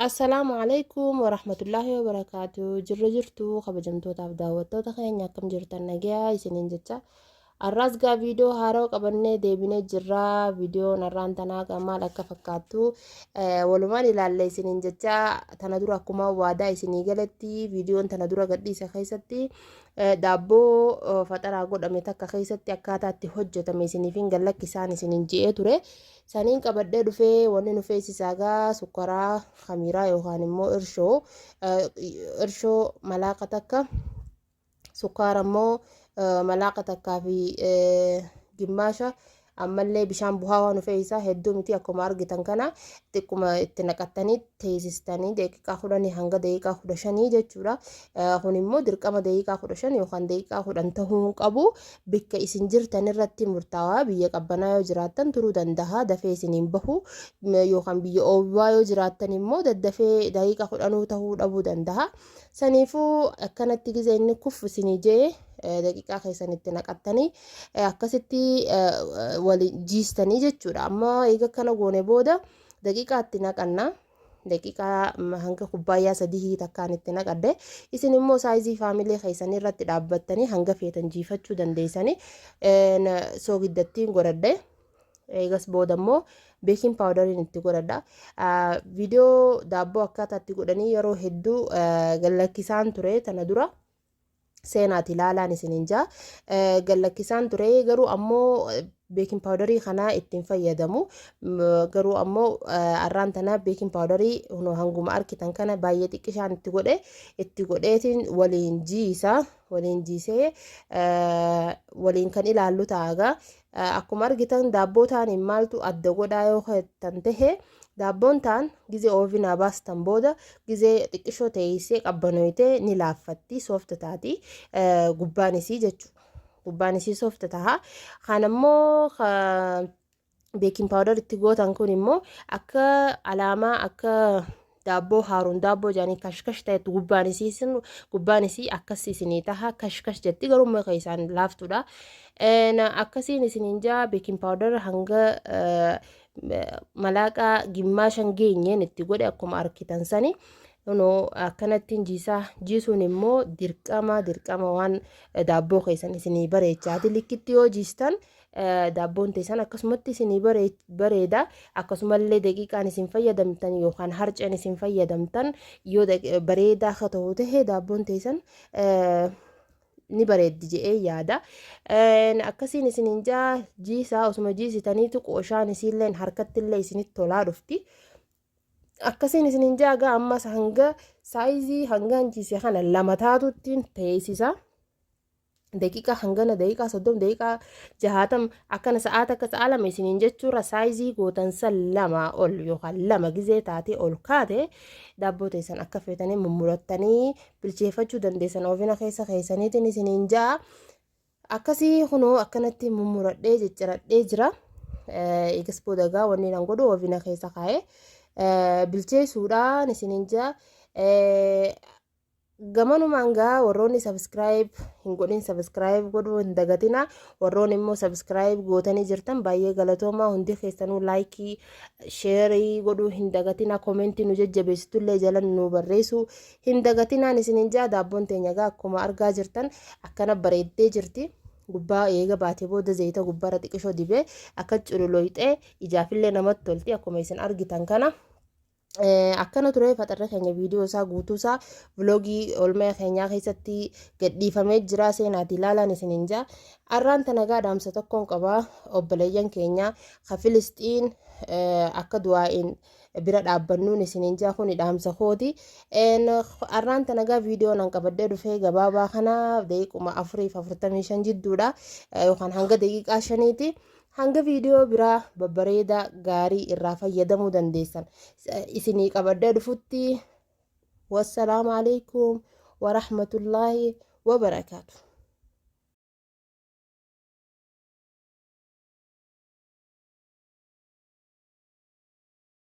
Assalaamu alaikum warahmatullaahi wabarakaatu jirra jirtu kabajamtootaaf daawwattoota keenya akkam jirtan nagayaa isiniin jecha arraas gaa viidiyoo haaroo qabannee deebinee jirra viidiyoon arraan tanaa gaa maal akka fakkaattu eh, walumaan ilaalle isiniin jecha tana dura akkuma waadaa isinii galatti viidiyoon tana dura gadhiise keessatti Daabboo faxaraa godhame takka keessatti akkaataa itti hojjetame isiniifin gallakki isaan isinin je'ee ture. Saniin qabadhee dhufee wanni nu feesisaa gaa sukkaraa hamiiraa yookaan immoo irshoo irshoo malaaqa takka sukkaara immoo malaaqa takkaa fi gimmaasha Ammallee bishaan buhaawaa nu fe'isaa hedduu miti akkuma argitan kana xiqquma itti naqattanii teessistanii daqiiqaa kudhanii hanga daqiiqaa kudha shanii jechuudha. Kun immoo dirqama daqiiqaa kudha shan yookaan daqiiqaa kudhan tahuu hin qabu. Bikka isin jirtan irratti murtaawaa biyya qabbanaa yoo jiraattan turuu danda'a dafee isin hin bahu yookaan biyya oowwaa yoo jiraattan immoo daddafee daqiiqaa kudhanuu tahuu dhabuu danda'a. Saniifuu akkanatti gizee inni kuffu isinii jee daqiqaa keessan itti naqattanii akkasitti waliin jiistanii jechuudha amma eega kana goone booda daqiqaa itti naqanna daqiqaa hanga kubbaayyaa sadihii takkaan itti naqadde isin immoo saayizii faamilee keessanii irratti dhaabbattanii hanga feetan jiifachuu dandeessanii soogiddattiin godhadhe eegas booda immoo beekiin paawudariin itti godhadha viidiyoo daabboo akkaataa itti godhanii yeroo hedduu gallakkisaan ture tana dura. seenaati laalaan isinin jaa gallakkisaan ture garuu ammoo beekin paawudarii kanaa ittiin fayyadamu garuu ammoo arraan tana beekin paawudarii hanguma arkitan kana baay'ee xiqqishaan itti godhe itti godheetiin waliin jiisa waliin jiisee waliin kan ilaallu taagaa Akkuma argitan daabboo taaniin maaltu adda godhaa yoo kan tahe daabboon taan gizee oovinaa baastan booda gizee xiqqishoo teessee qabbanooyte ni laaffatti soofta taati gubbaan isii jechuudha. Gubbaan isii soofta taha. Kan ammoo beekin paawudar itti gootan kun immoo akka alaamaa akka daabboo haaruun daabboo jaanii kashkash ta'etu gubbaan isii isin gubbaan isii akkas isinii taha kashkash jetti garuu umma keessaan laaftuudha akkasiin isiniin jaa beekin paawudar hanga malaaqaa gimmaashan geenyeen itti godhe akkuma arkitan sani no akkanattiin jiisaa jiisuun immoo dirqama dirqama waan daabboo keessan isinii bareechaati likkitti yoo jiistan daabboon teessan akkasumatti isinii bareeda akkasumallee daqiiqaan isin fayyadamtan yookaan harceen isin fayyadamtan yoo bareedaa akka ta'u ta'e daabboon teessan ni bareeddi je'ee yaada akkasiin isiniin jaa jiisaa osuma jiisitaniitu qooshaan isiilleen harkattillee isinitti tolaa dhufti akkasiin isiniin jaa gaa ammas hanga saayizii hangaan jiise kana lama taatuttiin teessisa. daqiiqaa hangana daqiiqaa soddom daqiiqaa jahaatam akkana sa'aa takka sa'aa lama isiniin jechuurra saayizii gootan san lamaa ol yookaan lama gizee taatee ol kaate daabboo teessan akka feetanii mummurattanii bilcheeffachuu dandeessan oofina keessa keessaniitiin isiniin ja'a akkasii kunoo akkanatti mummuradhee cicciradhee jira eegas boodagaa wanni nan godhu oofina keessa kaa'ee bilcheessuudhaan isiniin ja'a Gamanumaan gaa warroonni subscribe hin godhin subscribe godhuu hin dagatina warroonni immoo subscribe gootanii jirtan baay'ee galatoomaa hundi keessanuu like share godhuu hin dagatina comment nu jajjabeessitu illee jalan nu barreessu hin dagatinaan isinin jaa daabboon teenya gaa akkuma argaa jirtan akkana bareeddee jirti. gubbaa eega baatee booda zayita gubbaarra xiqishoo dibee akka cululooyxee ijaafillee namatti tolti akkuma isin argitan kana. akkana ture faxarri keenya viidiyoo isaa guutuu isaa viloogii olmee keenyaa keessatti gadhiifamee jira seenaati ilaalaan isiniin jaa arraan tanagaa dhaamsa tokkoon qaba obboleeyyan keenya ka filisxiin akka du'aa'iin bira dhaabbannuun isiniin jaa kuni dhaamsa kooti arraan tanagaa viidiyoo nan qabadhee dhufee gabaabaa kana daqiiquma afuriif afurtamii shan jidduudha yookaan hanga daqiiqaa shaniiti. Hanga viidiyoo biraa babbareedaa gaarii irraa fayyadamuu dandeessan isinii qabadhee dhufutti wassalaamu alaikum warahmatullaahi wabarakaatu.